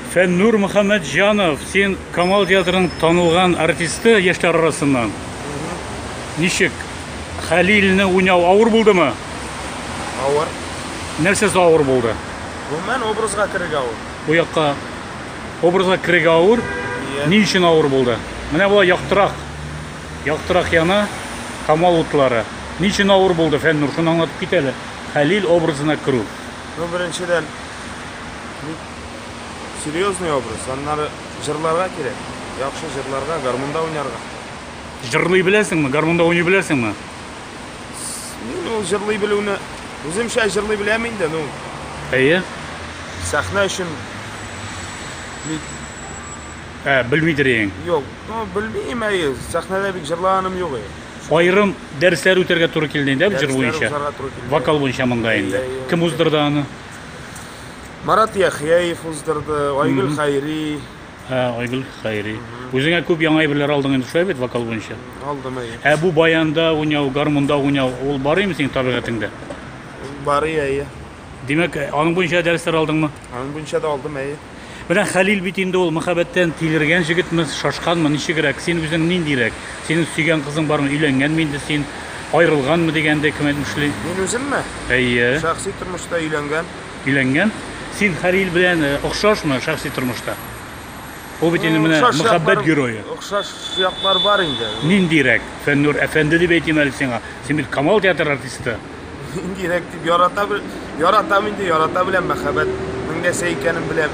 Фәннур Мөхәммәтҗанов, син Камал театрының танылган артисты яшьләр арасыннан. Ничек? Хәлилне уйнау авыр булдымы? Авыр. Нәрсәсе авыр булды? Гомумән образга керергә авыр. Бу якка образга керергә авыр. Иә. Ни өчен авыр булды? Менә болай яктырак. Яктырак яна Камал утлары. Ни өчен авыр булды, Фәннур, шуны аңлатып кит әле. Хәлил образына керү. Ну, беренчедән, бик серьезный образ. Аннары җырларга кирәк. Яхшы җырларга, гармунда уйнарга. Җырлый беләсеңме? Гармунда уйный беләсеңме? Мин ул җырлый белүне үземчә җырлый беләм инде, ну. Әйе. Сәхнә өчен бик Ә, белмидер ең. Юк, ну, белмим, әйе, сәхнәдә бик җырлаганым юк әйе. Айрым дәресләр үтәргә туры килде инде, җыр буенча. Вокал буенча монда инде. Кем уздырды аны? Марат Яхяев уздырды, Айгөл Хайри. Ә, Айгөл Хайри. Үзеңә күп яңа әйберләр алдың инде, шулай бит вокал буенча? Алдым әйе. Ә бу баянда уйнау, гармунда уйнау, ул бар име синең табигатеңдә? Бар әйе. Димәк, аның буенча дәресләр алдыңмы? Аның буенча да алдым әйе. Менә Хәлил бит инде ул мәхәббәттән тилергән җегетме, шашканмы, ничегрәк, син үзең ниндирәк? Синең сөйгән кызың бармы, өйләнгәнме инде син, аерылганмы дигәндәй кем әйтмешли. Мин үземме? Әйе. Шәхси тормышта өйләнгән. Өйләнгән? Син Хәлил белән э, охшашмы шәхси тормышта? Ул бит инде менә Охшаш мәхәббәт яклар- герое. Охшаш яклар бар инде. Ниндирәк? Фәннүр әфәнде дип әйтим әле сиңа. Син бит Камал театры артисты. Инде ирек дип ярата бел... Яратам инде, ярата беләм, мәхәббәт. Мин нәрсә икәнен беләм.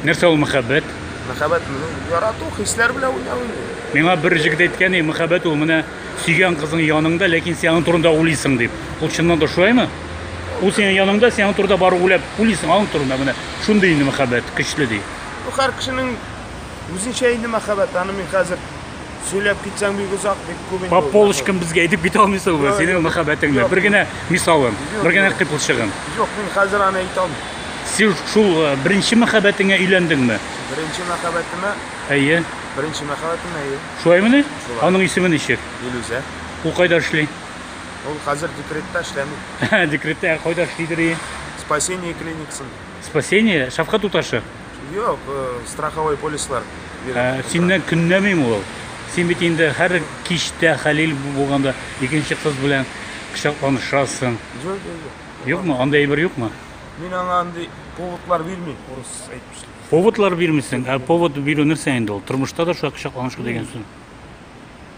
Нәрсә ул мәхәббәт? Мәхәббәт, ярату, хисләр белән уйнау инде. Миңа бер җегет әйткән, и, мәхәббәт ул менә сөйгән кызың яныңда, ләкин син аның турында уйлыйсың дип. Ул чыннан да шулаймы? Ул синең яныңда, син аның турында бары уйлап, уйлыйсың аның турында менә. Шундый инде мәхәббәт, көчле ди. Бу һәр кешенең үзенчә инде мәхәббәт. Аны мин хәзер Сөйләп китсәң бик озак, бик күп инде. По полочкам безгә әйтеп китә алмыйсың бу синең мәхәббәтеңне. Бер генә мисалын, бер генә кыйпылчыгын. Юк, мин хәзер аны әйтә алмыйм. Син шул э, беренче мәхәббәтеңә өйләндеңме? Беренче мәхәббәтемә, Әйе. беренче мәхәббәтемә әйе. Шулаймыни? Шулай. Аның исеме ничек? Илүзә. Ул кайда эшли? Ул хәзер декретта эшләми. Декретта ә кайда эшлидер и? Спасение клиникасында. Спасение, шәфкать уташы. Юк, э, страховой полислар бирә. Ә, синнән көнләмим ул. Син бит инде һәр кичтә Хәлил булганда икенче кыз белән кочакланышасың. Юк, юк, юк. Юкмы? Андый әйбер юкмы? Мин аңа андый поводлар бирмим, урыс әйтмешли. Поводлар бирмисең, ә повод бирү нәрсә инде ул? Тормышта да шулай кочакланышу дигән сүз.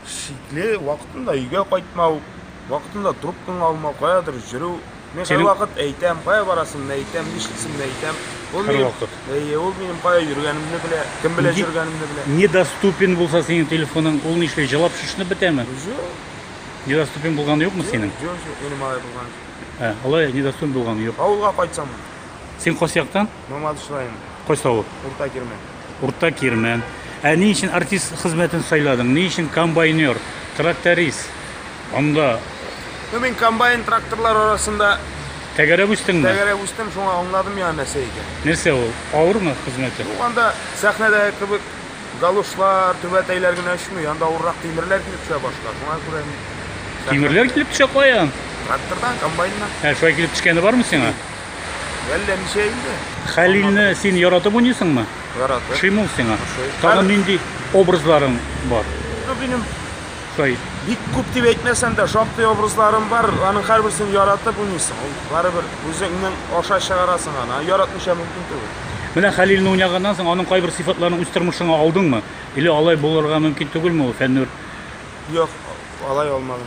шикле, вакытында өйгә кайтмау, вакытында трубкаңа алмау, каядыр йөрү. Мин Синең... вакыт әйтәм, кая барасымны әйтәм, нишлисемне әйтәм. Ул Хәр минем, вакыт. Әйе, ул минем кая йөргәнемне белә, кем белән йөргәнемне белә. Недоступен булса синең телефоның, ул нишли, җылап шешенеп бетәме? Юк. Недоступен булганы юкмы синең? Юк, юк, минем алай булган. Ә, алай недоступен булганы юк. Авылга кайтсам. Син кайсы яктан? Мамадыш районы. Кайсы авыл? Урта Кирмән. Урта Кирмән. Ә ни өчен артист хезмәтен сайладың? Ни өчен комбайнер, тракторист? Анда Ну, мин комбайн тракторлар арасында тәгәрәп үстеңме? тәгәрәп үстем, шуңа аңладым яңа нәрсә икән. Нәрсә ул? Авырмы хезмәте? Ну, анда сәхнәдәге кебек галошлар, түбәтәйләр генә очмый, анда авыррак тимерләр килеп төшә башка. Шуңа күрә мин сәхнә- Тимерләр килеп төшә каян? Трактордан, комбайннан. Ә шулай килеп төшкәне бармы сиңа? Әллә ничә инде. Хәлилне син яратып уйныйсыңмы? Яратып. Ошыймы ул сиңа? Ошый. Тагын Һәр- нинди образларың бар? Ну, минем Шулай бик күп дип әйтмәсәм дә, шактый образларым бар. Аның һәрберсен яратып уйныйсың. Ул барыбер үзеңнең аша чыгарасың аны. Яратмыйча мөмкин түгел. Менә Хәлилне уйнаганнан соң аның кайбер сыйфатларын үз тормышыңа алдыңмы? Или алай булырга мөмкин түгелме ул Фәннүр? Юк, алай алмадым.